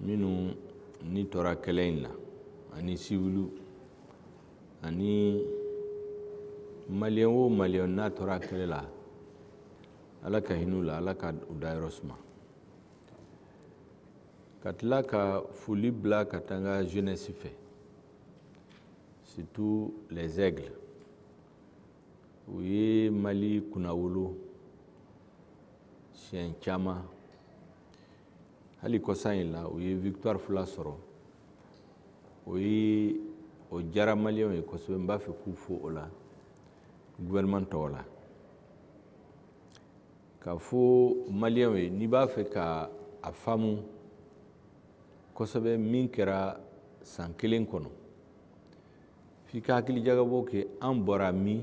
minnu ni tora kɛlɛ in na ani siwiliw ani maliyɛn o maliyɛn n'a tora kɛlɛ la ala ka hinɛ u la ala ka u dayɔrɔ suma ka tila ka foli bila ka taa an ka jeunesse fɛ surtout les aigles u ye mali kunnawolo siɲɛ caman hali kɔsan in la u ye victoire fila sɔrɔ o ye o diyara maliyɛnw ye kosɛbɛ n b'a fɛ k'u fo o la gouvernement tɔgɔ la k'a fɔ maliyɛnw ye n'i b'a fɛ ka a faamu kosɛbɛ min kɛra san kelen kɔnɔ f'i ka hakilijagabɔ kɛ an bɔra min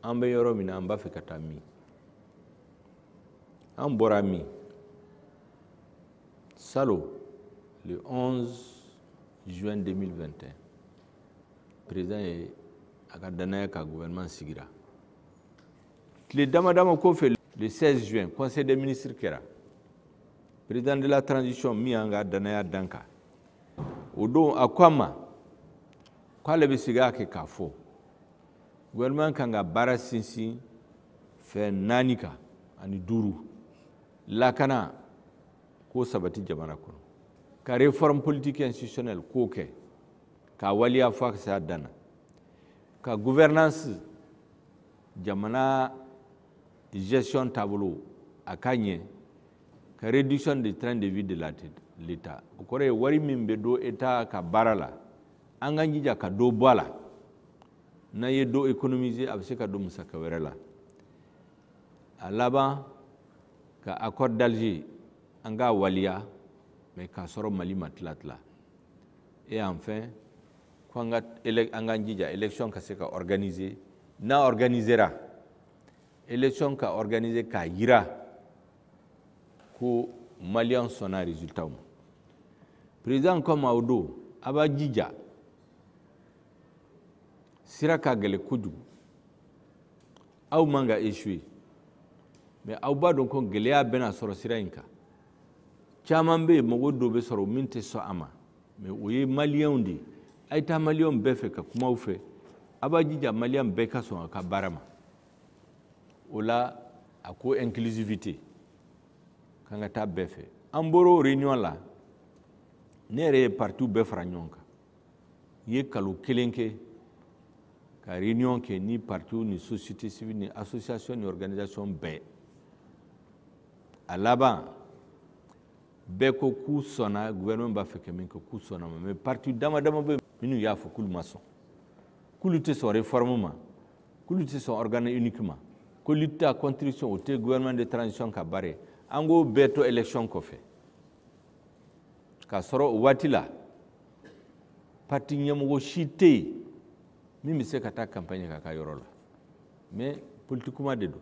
an bɛ yɔrɔ min na an b'a fɛ ka taa min an bɔra min salon le 11 juin 2021 président ye a ka danaya ka gouvernement sigira tile dama dama kɔfɛ le 16 juin conseil des ministres kɛra président de la transition min y'an ka danaya d'an kan o don a ko an ma k'ale bɛ segin a kan k'a fɔ gouvernement kan ka baara sinsin fɛn naani kan ani duuru lakana k'o sabati jamana kɔnɔ ka réforme politique institutionnelle k'o kɛ k'a waliya fo a ka se a dan na ka gouvernance jamana gestion taabolo a ka ɲɛ ka réduction de train de vie de l'état o kɔrɔ ye wari min bɛ don état ka baara la an k'an jija ka dɔ bɔ a la n'an ye dɔ économiser a bɛ se ka don musaka wɛrɛ la a laban ka accord d'Alger an k'a waliya mais k'a sɔrɔ Mali ma tila tila et enfin ko an k'an jija élection ka se ka organiser n'a organisera élection ka organiser k'a jira ko maliyɛn sɔnna résultat ma président ko an ma o don a b'a jija sira ka gɛlɛn kojugu aw man ka échouer mais aw b'a dɔn ko gɛlɛya bɛna sɔrɔ sira in kan caman bɛ yen mɔgɔ dɔw bɛ sɔrɔ min tɛ sɔn a ma mais o ye maliyɛnw de ye a ye taa maliyɛnw bɛɛ fɛ ka kuma u fɛ a b'a jija maliyɛn bɛɛ ka sɔn a ka baara ma o la a ko inclusivité k'an ka taa bɛɛ fɛ an bɔra o réunion la ne yɛrɛ ye partiw bɛɛ fara ɲɔgɔn kan n ye kalo kelen kɛ ka réunion kɛ ni partiw ni société civile ni association ni organisation bɛɛ a laban bɛɛ ko k'u sɔnna gouvernement b'a fɛ ka min kɛ k'u sɔnn'a ma mais parti dama dama bɛ minnu y'a fɔ k'olu ma sɔn k'olu tɛ sɔn réforme ma k'olu tɛ sɔn organe unique ma ko lutte contre la corruption o tɛ gouvernement de transition ka baara ye an k'o bɛɛ to élection kɔfɛ k'a sɔrɔ o waati la parti ɲɛmɔgɔ si tɛ yen min bɛ se ka taa campagne k'a ka yɔrɔ la mais politique kuma de don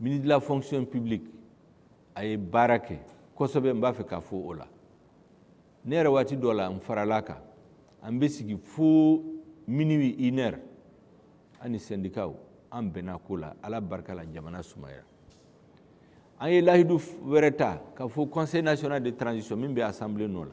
ministre de la fonction publique a ye baara kɛ kosɛbɛ n b'a fɛ k'a fɔ o la ne yɛrɛ waati dɔ la n farala a kan an bɛ sigi fo minuit une heure an ni sɛndikaw an bɛnna ko la ala barika la jamana sumayara an ye lahidu wɛrɛ ta k'a fɔ conseil national de transition min bɛ assemblée nɔ la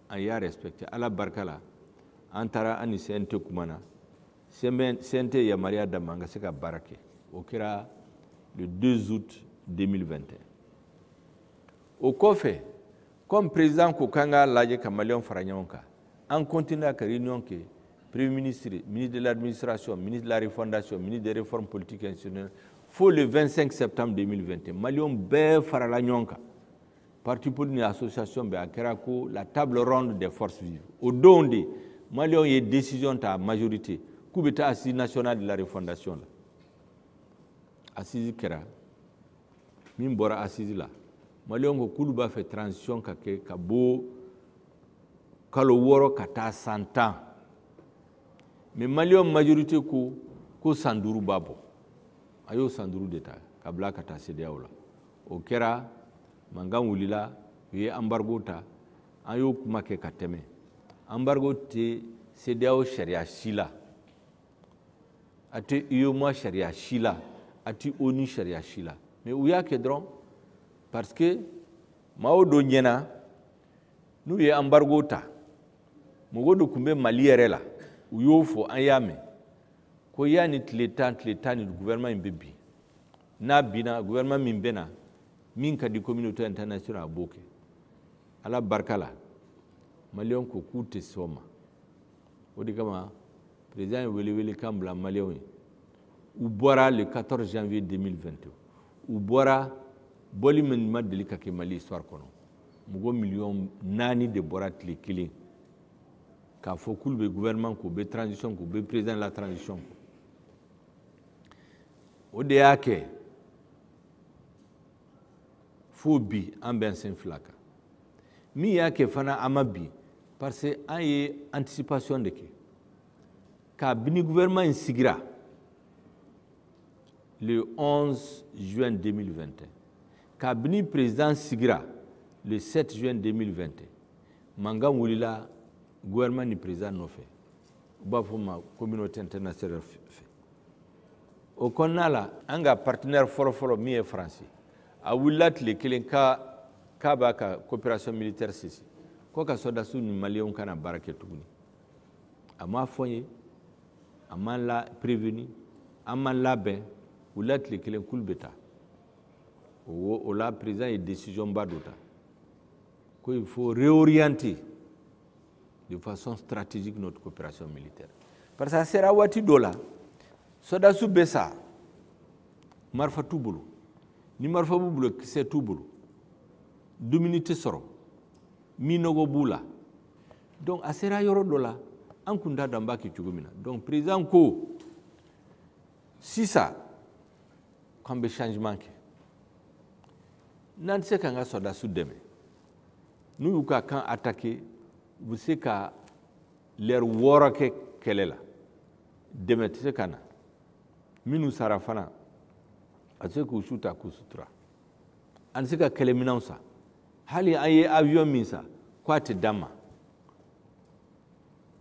an y'a respecté ala barika la an taara an ni CNT kumana CNT yamaruya d'an ma an ka se ka baara kɛ o kɛra le 2 août 2021 o kɔfɛ comme président ko k'an k'a lajɛ ka maliyɛnw fara ɲɔgɔn kan an continua ka réunion kɛ premier ministre ministre de l'administration ministre de la refondation ministre des réformes politiques institutionnelles fo le 25 septembre 2021 maliyɛnw bɛɛ farala ɲɔgɔn kan Parti politique ni association bɛɛ a kɛra ko la table ronde des forces vives o don de Maliens ye décision ta majorité k'u bɛ taa assise nationale de la refondation la assise kɛra min bɔra assise la Maliens ko k'olu b'a fɛ transition ka kɛ ka bɔ kalo wɔɔrɔ ka taa san tan mais Maliens majorité ko san duuru b'a bɔ a y'o san duuru de ta k'a bila ka taa CEDEAO la o kɛra mankan wulila u ye embargo ta an y'o kuma kɛ ka tɛmɛ embargo tɛ CEDEAO sariya si la a tɛ UEMOA sariya si la a tɛ ONU sariya si la mais u y'a kɛ dɔrɔn parce que maaw dɔ ɲɛna n'u ye embargo ta mɔgɔ dɔ tun bɛ mali yɛrɛ la u y'o fɔ an y'a mɛn ko yani tile tan tile tan ni gouvernement in bɛ bin n'a binna gouvernement min bɛ na min ka di communauté internationale a b'o kɛ ala barika la maliyɛnw ko k'u tɛ sɔn o ma o de kama président ye welewele kan bila maliyɛnw ye u bɔra le 14 janvier 2021 u bɔra bɔli min ma deli ka kɛ mali histoire kɔnɔ mɔgɔ miliyɔn naani de bɔra tile kelen k'a fɔ k'olu bɛ gouvernement k'u bɛ transition k'u bɛ président de la transition kɔ o de y'a kɛ fo bi an b'an sen fila kan min y'a kɛ fana an ma bin parce que an ye anticipation de kɛ kabini gouvernement in sigira le 11 juin 2021 kabini président sigira le 7 juin 2021 mankan wulila gouvernement ni président nɔfɛ u b'a fɔ ma communauté internationale fɛ o kɔnɔna la an ka partenaire fɔlɔfɔlɔ min ye faransi a wulila tile kelen k'a b'a ka coopération militaire cesser ko a ka sɔdasiw ni maliyɛnw kana baara kɛ tuguni a m'a fɔ an ye a m'an la prévenu an m'an labɛn u wulila tile kelen k'olu bɛ taa o la président ye décision ba dɔ ta ko il faut réorienter de façon stratégique notre coopération militaire parce que a sera waati dɔ la sɔdasiw bɛ sa marifa t'u bolo ni marifa b'u bolo kisɛ t'u bolo dumuni tɛ sɔrɔ minɔgɔ b'u la donc a sera yɔrɔ dɔ la an kun t'a dɔn an b'a kɛ cogo min na donc président ko sisan k'an bɛ changement kɛ n'an tɛ se k'an ka sɔrɔdasiw dɛmɛ n'u y'u ka camp attaqué u bɛ se ka lɛri wɔɔrɔ kɛ kɛlɛ la dɛmɛ tɛ se ka na minnu sara fana a tɛ se k'u su ta k'u sutura an tɛ se ka kɛlɛminɛnw san hali an ye avion min san ko a tɛ d'an ma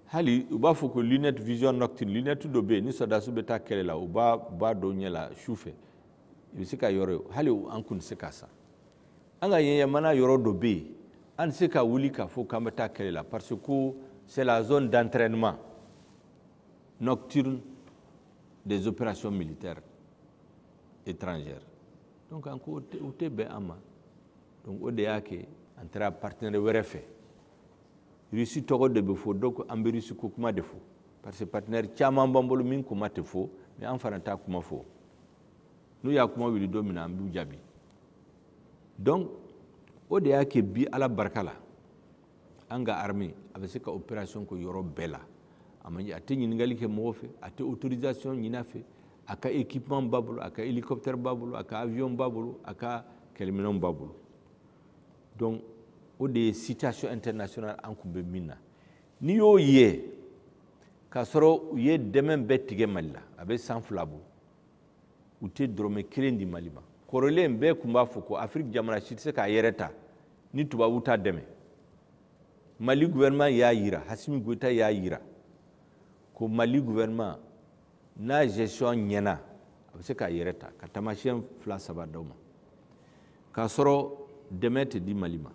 hali u b'a fɔ ko lunette vision nocturne lunette dɔ bɛ yen ni sɔrɔdasiw bɛ taa kɛlɛ la u b'a don u ɲɛ la su fɛ i bɛ se ka yɔrɔ ye hali an kun tɛ se k'a san an ka jamana yɔrɔ dɔ bɛ yen an tɛ se ka wuli k'a fɔ k'an bɛ taa kɛlɛ la parce que c'est la zone d'entraînement nocturne des opérations militaires étrangères donc an ko o tɛ bɛn an ma donc o de y'a kɛ an taara partenaire wɛrɛ fɛ rusi tɔgɔ de bɛ fɔ donc an bɛ rusi ko kuma de fɔ parce que partenaire caman b'an bolo min kuma tɛ fɔ mais an fana t'a kuma fɔ n'u y'a kuma wuli don min na an b'u jaabi donc o de y'a kɛ bi ala barika la an ka armée a bɛ se ka opération kɛ yɔrɔ bɛɛ la a ma a tɛ ɲininkali kɛ mɔgɔ fɛ a tɛ autorisation ɲini a fɛ a ka équipement b'a bolo a ka hélicoptère b'a bolo a ka avion b'a bolo a ka kɛlɛminɛnw b'a bolo donc o de ye situation internationale an kun bɛ min na n'i y'o ye k'a sɔrɔ u ye dɛmɛ bɛɛ tigɛ mali la a bɛ san fila bɔ u tɛ dɔrɔmɛ kelen di mali ma kɔrɔlen bɛɛ tun b'a fɔ ko afiriki jamana si tɛ se k'a yɛrɛ ta ni tubabu t'a dɛmɛ mali guvɛrɛnman y'a yira hasimi goyita y'a yira ko mali guvɛrɛnman n'a gestion ɲɛna a bɛ se k'a yɛrɛ ta ka taamasiyɛn fila saba d'aw ma k'a sɔrɔ dɛmɛ tɛ di mali ma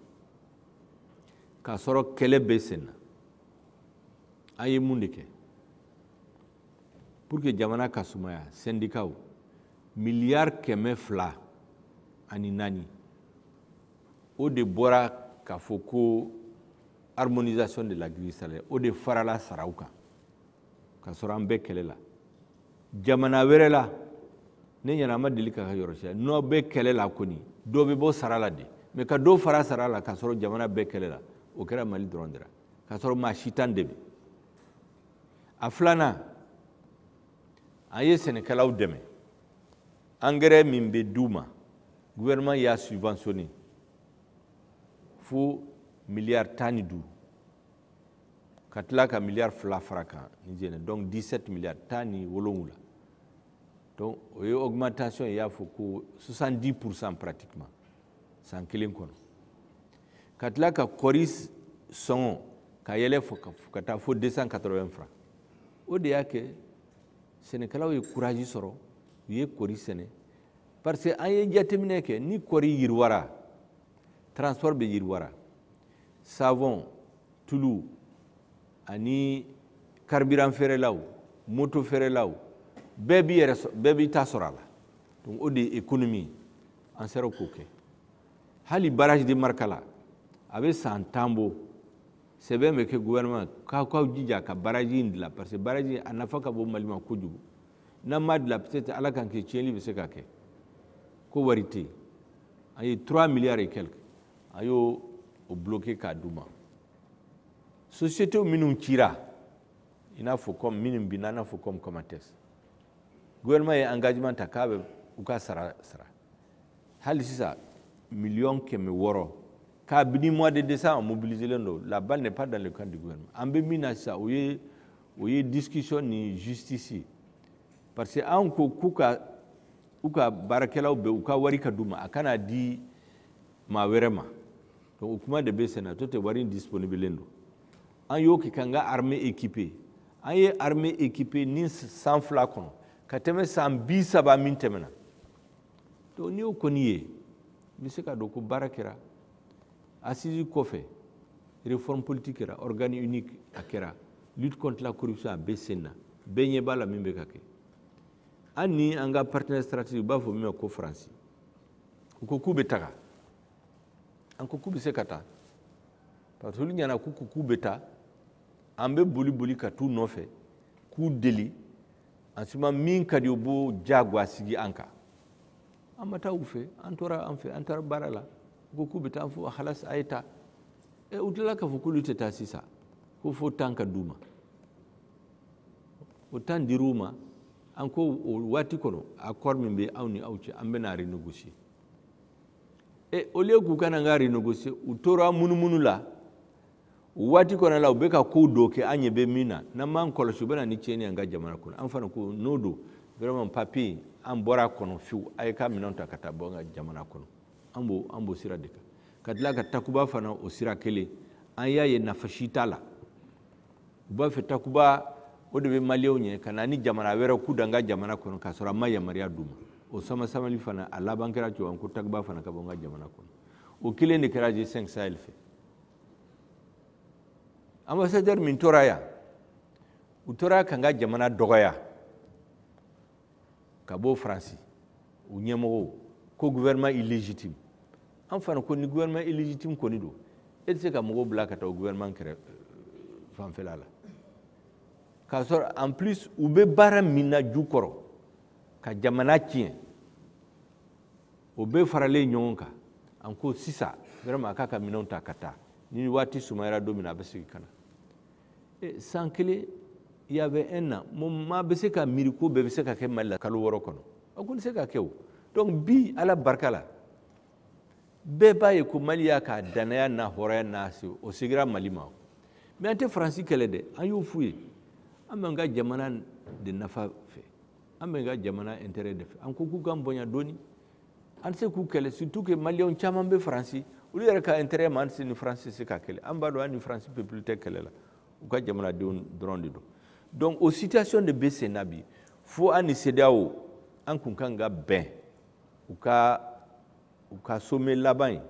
k'a sɔrɔ kɛlɛ bɛ sen na an ye mun de kɛ pour que jamana ka sumaya sɛndikaw miliyari kɛmɛ fila ani naani o de bɔra k'a fɔ ko harmonisation de la grille salaire o de farala saraw kan ka sɔrɔ an bɛ kɛlɛ la jamana wɛrɛ la ne ɲɛna an ma deli ka yɔrɔ si ye n'aw bɛ kɛlɛ la kɔni dɔ bɛ bɔ sara la de mais ka dɔ fara sara la k'a sɔrɔ jamana bɛ kɛlɛ la o kɛra mali dɔrɔn de la k'a sɔrɔ maa si t'an dɛmɛ a filanan an ye sɛnɛkɛlaw dɛmɛ angɛrɛ min bɛ d'u ma gouvernement y'a subventionné fo miliyari tan ni duuru ka tila ka miliyari fila fara kan ni jɛnɛ donc 17 miliyari tan ni wolonwula donc o ye augmentation ye i y'a fɔ ko 70 pourcent pratiquement san kelen kɔnɔ ka tila ka kɔri sɔngɔ ka yɛlɛ ka taa fo 280 francs o de y'a kɛ sɛnɛkɛlaw ye kuraji sɔrɔ u ye kɔri sɛnɛ parce que an ye jateminɛ kɛ ni kɔri yiriwara transport bɛ yiriwara savon tulu ani carburant feerelaw moto feerelaw bɛɛ b'i yɛrɛ bɛɛ b'i ta sɔrɔ a la donc o de ye économie an sera k'o kɛ hali barrage de markala a bɛ san tan bɔ sɛbɛn bɛ kɛ gouvernement k'aw k'aw jija ka baraji in dilan parce que baraji a nafa ka bon mali ma kojugu n'an m'a dilan peut être ala kan'a kɛ tiɲɛli bɛ se ka kɛ ko wari tɛ yen an ye 3 milliards et quelque an y'o débloqué k'a d'u ma société minnu cira i n'a fɔ comme minnu binna i n'a fɔ comme Comatex gouvernement ye engagement ta k'a bɛ u ka sara sara hali sisan miliyɔn kɛmɛ wɔɔrɔ kabini mois de décembre mobiliselen don la balle n'est pas dans le camp du gouvernement an bɛ min na sisan o ye o ye discussion ni justice ye parce que anw ko k'u ka u ka baarakɛlaw bɛ u ka wari ka d'u ma a kana di maa wɛrɛ ma donc o kuma de bɛ sen na n'o tɛ wari in disponibilen don an y'o kɛ k'an ka armée équipée an ye armée équipée ni san fila kɔnɔ ka tɛmɛ san bi saba min tɛmɛna n'i y'o kɔni ye i bɛ se ka dɔn ko baara kɛra assises kɔfɛ réforme politique kɛra organe unique a kɛra lutte contre la corruption a bɛ sen na bɛɛ ɲɛ b'a la min bɛ ka kɛ an ni an ka partenaire stratégique u b'a fɔ min ma ko faransi u ko k'u bɛ taga an ko k'u bɛ se ka taa parce que olu ɲɛna k'u k'u bɛ taa an bɛ boli boli ka t'u nɔfɛ k'u deli en ce moment min ka di u b'o jagoya sigi an kan an ma taa u fɛ an tora an fɛ an taara baara la u ko k'u bɛ taa fo halas a ye taa ɛ u tilala k'a fɔ k'olu tɛ taa sisan ko fo temps ka d'u ma o temps dir'u ma an ko o waati kɔnɔ accord min bɛ an ni aw cɛ an bɛn'a renégocier ɛ au lieu k'u ka na an k'a renégocier u tora munumunu la o waati kɔnɔ la u bɛ ka ko dɔ kɛ an ɲɛ bɛ min na n'an m'an kɔlɔsi u bɛ na ni tiɲɛni ye an ka jamana kɔnɔ an fana ko n'o don vraiment papier an bɔra a kɔnɔ fiyewu a y'a ka minɛnw ta ka taa bɔ an ka jamana kɔnɔ an b'o an b'o sira de kan ka tila ka takuba fana o sira kelen an y'a ye nafa si t'a la u b'a fɛ takuba o de bɛ maliyɛnw ɲɛ ka na ni jamana wɛrɛ k'u da an ka jamana kɔnɔ k'a sɔrɔ an ma yamaruya d'u ma o samasamali fana a laban kɛra cogoya ko takuba fana ka bɔ an ka jamana kɔnɔ o kelen de kɛra g5 sahel fɛ ambassadeur min tora yan u tora k'an ka jamana dɔgɔya ka bɔ faransi u ɲɛmɔgɔw ko gouvernement illégitime an fana ko ni gouvernement illégitime kɔni don e tɛ se ka mɔgɔw bila ka taa o gouvernement kɛrɛ fanfɛla la k'a sɔrɔ en plus u bɛ baara min na jukɔrɔ ka jamana tiɲɛ o bɛɛ faralen ɲɔgɔn kan an ko sisan vraiment a k'a ka minɛnw ta ka taa ni waati sumayara don min na a bɛ segin ka na eh, san kelen il y avait un an maa bɛ se ka miiri ko bɛɛ bɛ se ka kɛ mali la kalo wɔɔrɔ kɔnɔ a ko tɛ se ka kɛ o donc bi ala barika la bɛɛ b'a ye ko mali y'a ka dannaya n'a hɔrɔnya n'a se o segira mali ma mais an tɛ faransi kɛlɛ dɛ an y'o f'u ye an b'an ka jamana de nafa fɛ an b'an ka jamana intérêt de fɛ an ko k'u k'an bonya dɔɔni an tɛ se k'u kɛlɛ surtout que maliyɛnw caman bɛ faransi olu yɛrɛ ka intérêt ma an tɛ se ni faransi tɛ se ka kɛlɛ an b'a dɔn an ni faransi peuple tɛ kɛlɛ la u ka jamanadenw dɔrɔn de don donc o situation de bɛ sen na bi fo an ni CEDEAO an kun kan ka bɛn u ka u ka sommet laban in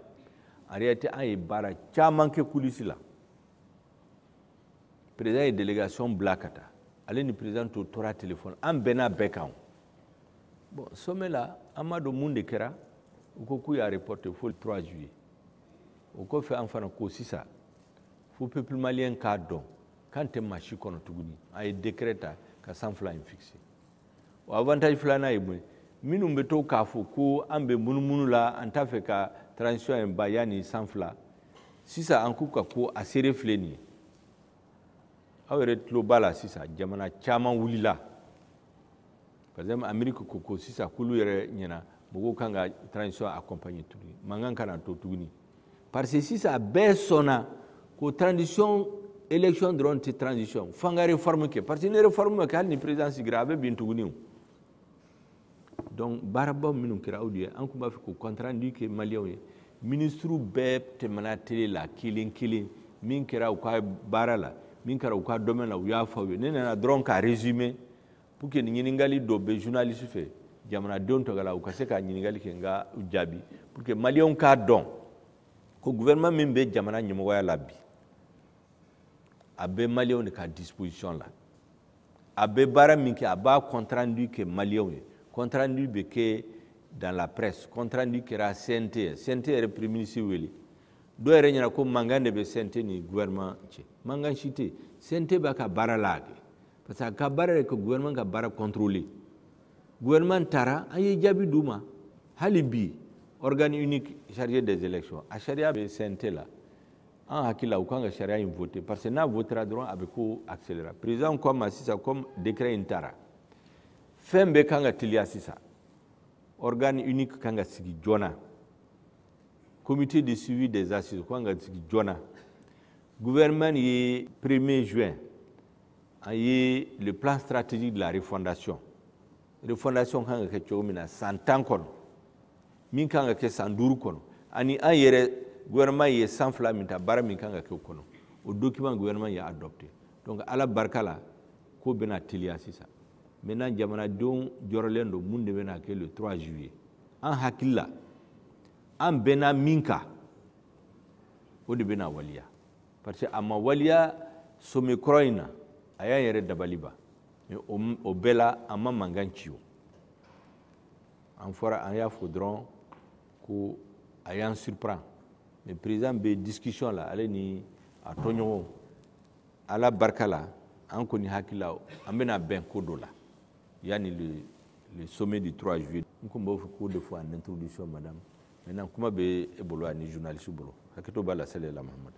en réalité an ye baara caman kɛ coulisse la président ye délégation bila ka taa ale ni président tɔw tora téléphone an bɛnna bɛɛ kan bon sommet la an m'a dɔn mun de kɛra u ko k'u y'a reporté fo le 3 juillet o kɔfɛ an fana ko sisan fo peuple malien k'a dɔn k'an tɛ maa si kɔnɔ tuguni an ye décret ta ka san fila in fixé o avantage filanan ye mun ye minnu bɛ to k'a fɔ ko an bɛ munumunu la an t'a fɛ ka transition in ban yanni san fila sisan an k'u ka ko a seere filɛ nin ye aw yɛrɛ tulo b'a la sisan jamana caman wulila par exemple Amérique ko ko sisan k'olu yɛrɛ ɲɛna mɔgɔw kan ka transition accompagner tuguni mankan kana to tuguni parce que sisan a bɛɛ sɔnna ko transition élection dɔrɔn tɛ transition f'an ka réforme kɛ parce que ni réforme ma kɛ hali ni président sigira a bɛ bin tuguni o donc baaraba minnu kɛra o de ye an tun b'a fɛ k'o compte rendu kɛ maliyɛnw ye minisiriw bɛɛ tɛmɛna tele la kelen kelen min kɛra u ka baara la min kɛra u ka domaine la u y'a fɔ aw ye ne nana dɔrɔn k'a résumer pour que ni ɲininkali dɔ bɛ journaliste fɛ jamanadenw tɔgɔ la u ka se ka ɲininkali kɛ n k'a jaabi pour que maliyɛnw k'a dɔn ko gouvernement min bɛ jamana ɲɛmɔgɔya la bi a bɛ maliyɛnw de ka disposition la a bɛ baara min kɛ a b'a compte rendu kɛ maliyɛnw ye compte rendu bɛ kɛ dans la presse compte rendu kɛra CNT ye CNT yɛrɛ premier ministre wele dɔw yɛrɛ ɲɛna ko mankan de bɛ CNT ni gouvernement cɛ mankan si tɛ CNT b'a ka baara la a kɛ parce que a ka baara de ka gouvernement ka baara contrôler gouvernement taara an ye jaabi d'u ma hali bi organe unique chargé des élections a sariya bɛ CNT la an hakili la u kan ka sariya in voter parce que n'a votera dɔrɔn a bɛ ko accélérer président ko an ma sisan comme décret in tara fɛn bɛɛ kan ka teliya sisan organe unique kan ka sigi joona comité de suivi des assises kan ka sigi joona gouvernement ye premier juin an ye le plan stratégique de la refondation refondation kan ka kɛ cogo min na san tan kɔnɔ min kan ka kɛ san duuru kɔnɔ ani an yɛrɛ gouvernement ye san fila min ta baara min kan ka kɛ o kɔnɔ o document gouvernement y'a adopté donc ala barika la ko bɛna teliya sisan maintenant jamanadenw jɔrɔlen don mun de bɛna kɛ le 3 juillet an hakili la an bɛnna min kan o de bɛna waliya parce que a ma waliya sommet kɔrɔ in na a y'an yɛrɛ dabali ban o bɛɛ la an ma mankan ci o an fɔra an y'a fɔ dɔrɔn ko a y'an surprend mais président bɛ discussion la ale ni a tɔɲɔgɔnw ala barika la an kɔni hakili la an bɛna bɛn ko dɔ la yanni le le sommet du 3 juillet n tun b'a fɛ k'o de fɔ en introduction madame maintenant kuma bɛ e bolo ani journaliste bolo hakɛto b'a la sɛlɛla mahamadu